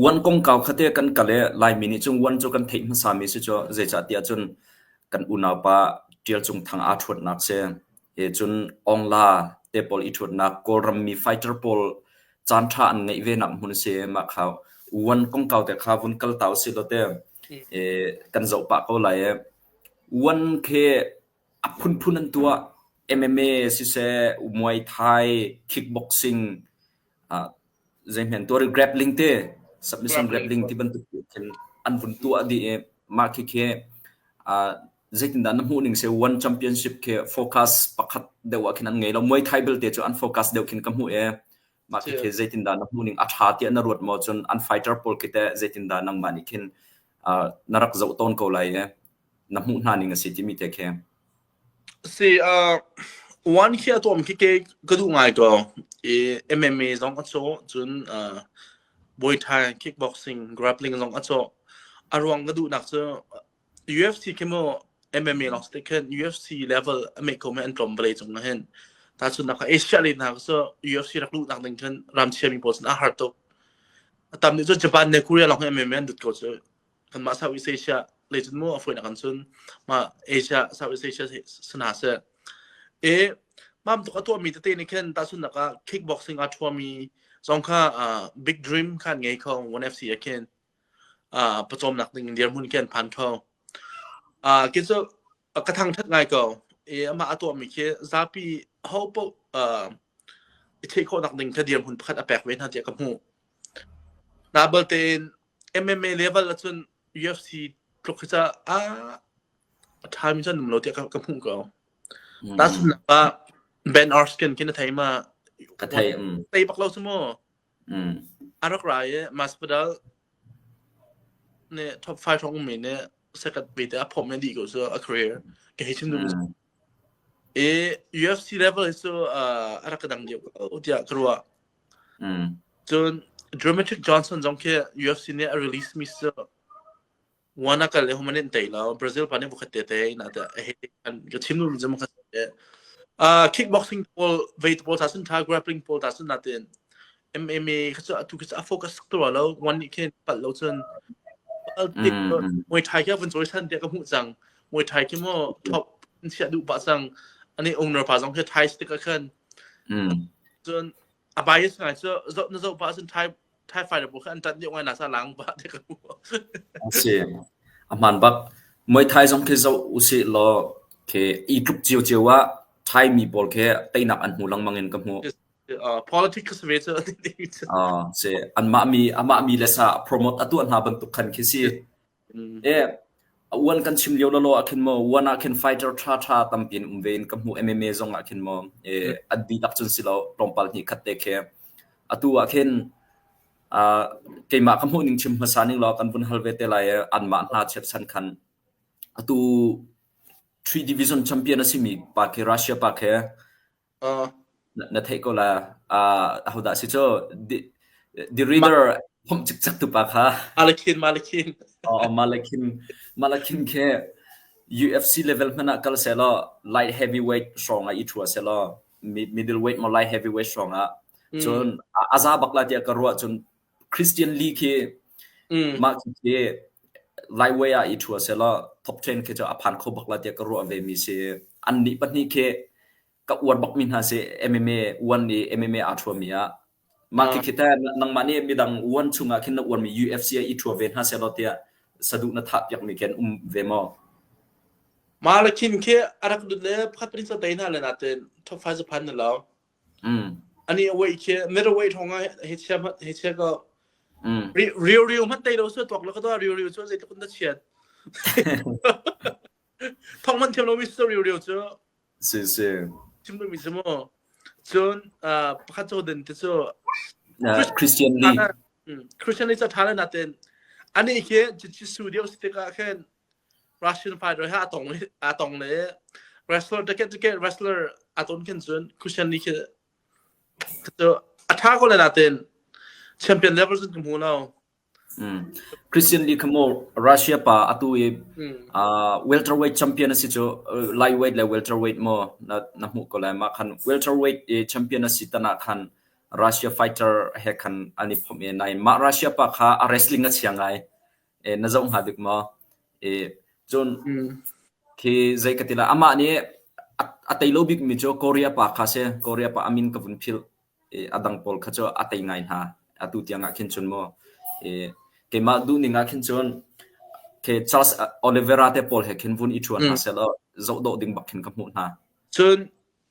Uan kongkau kha te kan kal i Laimi nih cun uan cu kan theih hmasami si cu zeicahtiah cun kan unaupa Ṭial Cung Thang aa ṭhuatnak si. He cun Ongla te pawl i ṭhuatnak Kawlrammi fighter pawl caanṭha an ngeih ve nak hmun si mah kha uan kongkau te kha vun kal ta usih law te kan zoh pah ko lai i uan khi a phunphun an tuah MMA siseh muay thai kickboxing zeihmanh tuar i grappling te submission grappling ti bantuk khin an vun tuah dih i mah khi khi zeitindah na hmuh ning se one championship khi focus pakhat deuh ah khin an ngei lo muay thai belte cu an focus deuh khin ka hmuh e mah khi khi zeitindah na hmuh ning a tha tiah na ruat maw cun an fighter pawl khi te zeitindah nangmah nih khin na rak zoh tawn ko lai e na hmuh hna ning a si timi te khi Si ah one khi a tuam khi ke ka duh ngai ko i MMA zong a cawh cun uh, Muay Thai kickboxing grappling zong a cawh a ruang ka duhnak cu UFC khi maw MMA lawng si te khin UFC level a meik ko me an tlawm vale cung ah hin ta cun nak Asia le hna cu UFC rak luh nak ding khin ram chia mi pawl sin a har tuk a tam nih cu Japan ne Korea lawng hi MMA an dut ko cu kanmah Southeast Asia lei cun mu a fuin a kan sun ma Asia Southeast Asia sina se e mam tuk a tuah mi tete ni khen ta sun naka kickboxing a thua mi zong kha big dream khan ngei kho 1FC a khen a pachom nak ding dir mun ken phan tho a kin so A ka thangṭhat ngai ko. I amah a tuahmi khi zapi ho paoh, aa, i theih khawhnak ding kha dirhmun pakhat a pek ve hna tiah ka hmuh. Nabalte in MMA level ahcun UFC tluk hi cu, aa, a ṭhami cu an um lo tiah ka ka hmuh ko. Mm. Tahchunhnak ah, Ben Askren khi na thei ma? Ka thei, mm. Thei bak lo cu maw? A rak ra i Masvidal nih top five hrawng ummi nih second ve te a phomh i dih ko cu a career ka hei chim duh cu. I UFC level hi cu uh, a rak ka dang deuh ko tiah ka ruah. Cun Dramatic Johnson zong khi UFC nih a release mi cu One a kal le hum an in tei lo. Brazil pa nih bukhat te te na ta he an ka chim nu jam kha se. Ah kickboxing pole vei pole ta sun tha grappling pole ta sun na tin. MMA kha chu tu kha a focus tu lo one ni khin pal lo chun Olympic Muay Thai kia pun choi san dia ka mu chang Muay Thai ki mo top sia du pa sang ani owner pa jong ke Thai stick khan chun a bias ngai so na zo pa sun Thai Thai Fire bu kha an ṭan dih ngai na sa lang ba te ka hmu. A si. A hmaan bak. Muay Thai zong khi zoh usih law khi i tluk cio cio ah Thai mi pawl khi teinak an hmu lengmang in ka hmu. Uh, politics ve cu a si anmah mi amah mi le sa promote atu hna bantuk khan khi si A uan kan chim lio lawlaw ahkhin maw uan ahkhin fighter ṭhaṭha tampi an um ve in ka hmuh. MMA zong ahkhin maw an dihlak cun si lo tlawmpal hnih khat te khi. Atu ahkhin uh, keimah ka hmuh ning chim hmasa ning law kan vun hal ve te lai anmah hna chiatsan khan atu three division champion a simi pa khi Russia pa khi Na theih ko la. Uh, ahodah si cu? The, the reader phomh cikcek tu pa kha. Malakhin, Malakhin. Oh, Malakhin. Malakhin khi UFC level hman ah kal se law light heavyweight strong ah i thua se law middleweight mo light heavyweight strong ah cun aza bak la tia ka ruah cun Christian League hi mm. mah cu hi Laiway ah i thu se la top 10 khi a phan kho bak la tiah ka ruah ve mi si an ni pahnih khi ka uan bak mi hna si MMA uan ni MMA a thu mi ah mah khi khita nangmah ni mi dang uan chunga khin na uan mi UFC i thu ve hna se la tiah sadu na tha piak mi ken um ve mo ma la khin khi arak dut le phat rin sa tai na le na ten top 5 pan na lo Ani a wei khi mit a wei thong ah he chia he chia ko. Riu riu hmat tei do su tok la ka to riu riu chu zei tluk na chiat. Thong man thiam lo mi su riu riu chu. Si si. Chim tu mi chu mo. Cun pakhat cho din te chu. Christian Lee. Christian Lee cha tha le na ten. Ani khi chi su dio stick ah khen Russian fai roi ha a tong a tong le wrestler ticket ticket wrestler a ton khin cun Christian ni khi chu a tha ko le na ten champion level cun hmu no Christian Lee kamo Russia pa atu i welterweight champion asi chu lightweight le welterweight mo na na hmu ko lai ma khan welterweight i champion asi tana khan Russia fighter he khan ani phom e nai ma Russia pa kha a wrestling a chia ngai e, na zoh hnga bik maw? E, cun khi zei ka ti lai, amah nih a, a tei lo bikmi cu Korea pa kha si. Korea pa a min ka vun philh. E, a dang pawl kha cu a tei ngai hna. Atu tiang ah khin cun mu. E, keimah duhning ah khin cun khi Charles Oliveira te pawl he khin vun i ṭhu hna sehlaw zoh dawh ding bak khin ka hmuh hna. Cun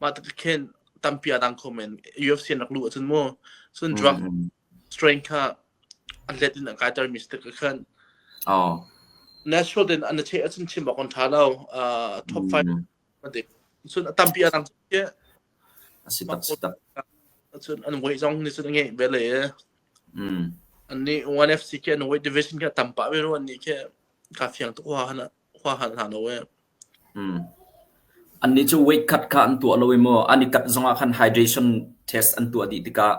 Mah tuk khin tampi a dang kho men. UFC an rak luh ahcun mu, cun drug strain kha an let in a kaiter mi si tik a khan. Oh. Natural din an i cheh ahcun chim awk an ṭha lo. Uh, top five a dik. Cun a tampi a dang khi. A si tak, si tak. Cun an weight zong ni cun a ngei ve le. Mm. An ni 1FC ke an weight division ke tampa ve ru an ni ke ka fiang tuk wa hana. khua hal hna lo ee. Hmm. Annih cu weight cut kha an tuah lo i maw an i kat zongah khan hydration test an tuah dih tikah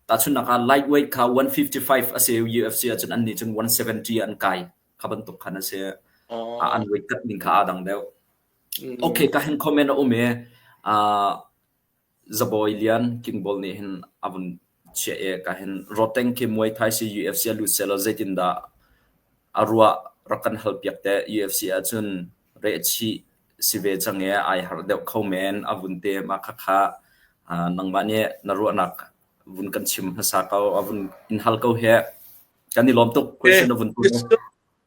tahchunnak ah light weight kha 155 a si UFC ahcun annih cun 170 an kai kha bantuk khan a si Oh. Ah, an weight cut ning kha aa dang deuh. Mm. Okay, ka hen comment a um i uh, Zabawi lian Kingbawl nih hin a vun chiah i ka hin rawtteng khi muai thaisii UFC ah lut sehlaw zeitindah a ruah rak kan hal piak teh. UFC ahcun rehchih si ve cang i ai harh deuh kho men a vun te mah khakha. Aa nangmah nih na ruahnak vun kan chim hmasa ko a vun in hal ko hih. Kan i lawm tuk question a vun put mu.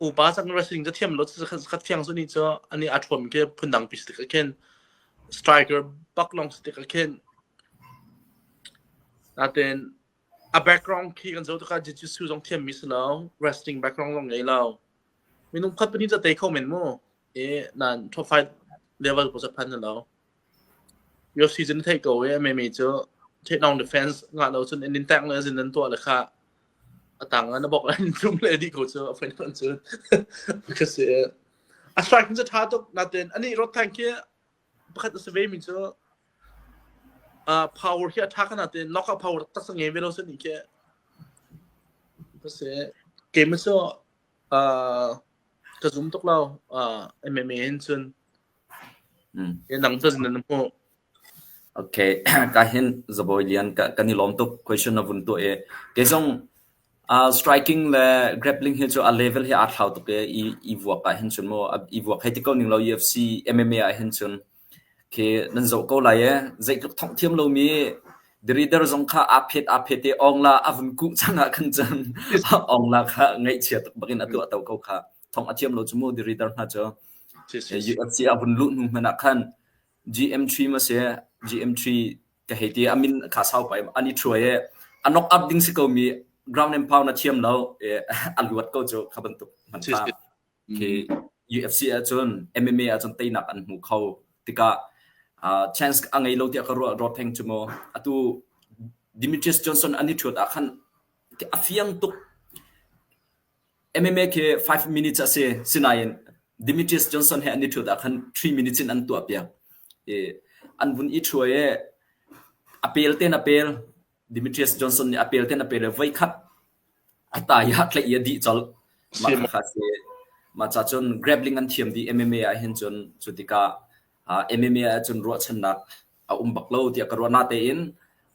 upa sak wrestling cu thiam lo zakhat fiang suni cu ani a thuam ke phundang pi stik akhen striker bak long stik akhen naten a background khi kan zo taka jiu-jitsu zong thiam mi silo wrestling background long ngei lo minung khat pani cha te kho men mu e nan trophy level po sa phan lo Yoshi cu na theih ko i a memi cu theihnaung defense ngah lo cun an in tengh le a zin an tuah le kha a tang ah na bawk in tlung le a dih ko cu a fain fain cu ka si a strike cu ṭha tuk natin anih Rod Tank hi pakhat a si ve mi cu uh, power hi a ṭha ka natin knockout power taksa ngei ve lo cu nih khi ka si game cu uh, ka zoom tuk lo uh, MMA in cun Midang cun nan hmuh. Ok, ka hin zabawi lian ka, kan i lawm tuk question na vun tuah i kei zong uh, striking le grappling hi cu a level hi aa thlau tuk i i, i vuak ah hin cun mu i vuak hei ti ko ning lo UFC MMA ah hin cun khi nan zoh ko lai e zeitluk thongh thiam lomi the reader zong kha aa phet aa phet i ong la a vun kuh cang ah khan cun ong la kha ngaihchia tuk bakin a tuah to ko kha thong a thiam lo cu mu dirider hna cu UFC a vun luh hnu hmanh ah khan GM3 ma si GM3 ka hei ti a min kha sau pai ani truai e a knock up ding si ko mi ground and pound a thiam lo a luat ko cu kha bantuk man ta ke UFC a chun MMA a chun teinak an hmu kho tika chance a ngei lo ti ka ro ro theng chumo atu Demetrius Johnson ani thuat a khan a fiang tuk MMA khi five minutes a si. Sinain Demetrius Johnson he an i ṭhut ah khan three minutes in an tuahpiak i an vun i ṭhua i a pel tein a pel. Demetrius Johnson nih a pel tein a pel i voi khat a ta i a tlaih i a dih colh. Mah kha a si. Mah ca cun grappling an thiam dih MMA ah hin cun cu tikah uh, MMA ah cun ruahchannak a um bak lo tiah ka ruah. Natein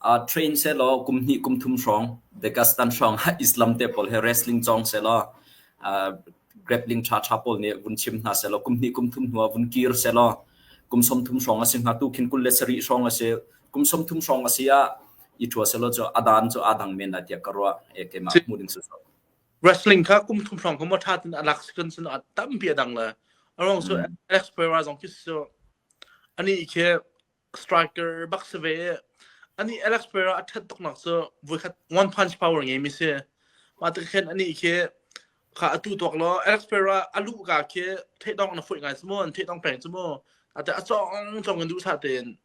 uh, train sehlaw kum hnih kum thum hrawng Dagestan hrawng ha Islam te pawl he wrestling cawng sehlaw uh, grappling tha tha pawl nih vun chim hna sehlaw kum hnih kum thum hnu vun kir sehlaw kum som thum hrawng a si hnga tu khin kul le sari hrawng a si kum som thum hrawng a si ah i thua sehlaw cu adan cu adang men na tiah ka ruah e ke ma mu ding su wrestling kha kum thum hrawng kha mo tha tin a lak sequence no a tampi a dang le along so mm. Alex Pereira zong khi so ani khi striker bak se ve ani Alex Pereira a that tok nak so voi khat one punch power nge mi se ma ta khen ani khi kha atu tok lo Alex Pereira alu ka khi the dong na foi ngai smo an the dong peng smo ate a chong chong du sa ten